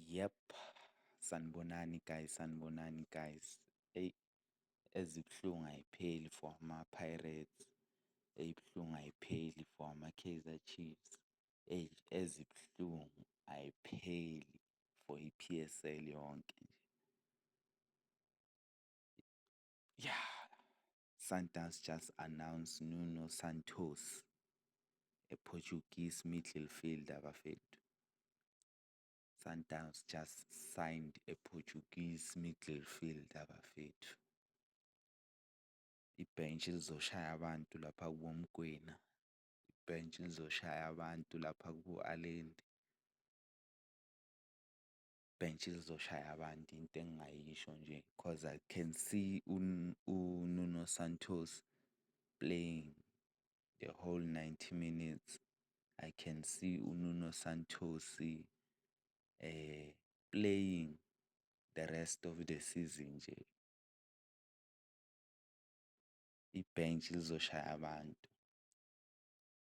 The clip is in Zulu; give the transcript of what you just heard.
Yep, sanibonani guys, sanibonani guys. Eyi ezibuhlungu ayipheli for amaPirates, ezibuhlungu ayipheli for amaKaizer Chiefs, eyi ezibuhlungu ayipheli for i-P_S_L yonke nje. Yah. Sundowns just announced Nuno Santos, a Portuguese middle fielder bafethu. Sundowns just signed a Portuguese middle fielder bafethu. Ibhentshi lizoshaya abantu lapha kubo Mgwena. Ibhentshi lizoshaya abantu lapha kubo Allende. bench lizoshaya abantu into engingayisho nje cause I can see uNuno Santos playing the whole ninety minutes, I can see uNuno Santos playing the rest of the season nje. Ibhentshi lizoshaya abantu.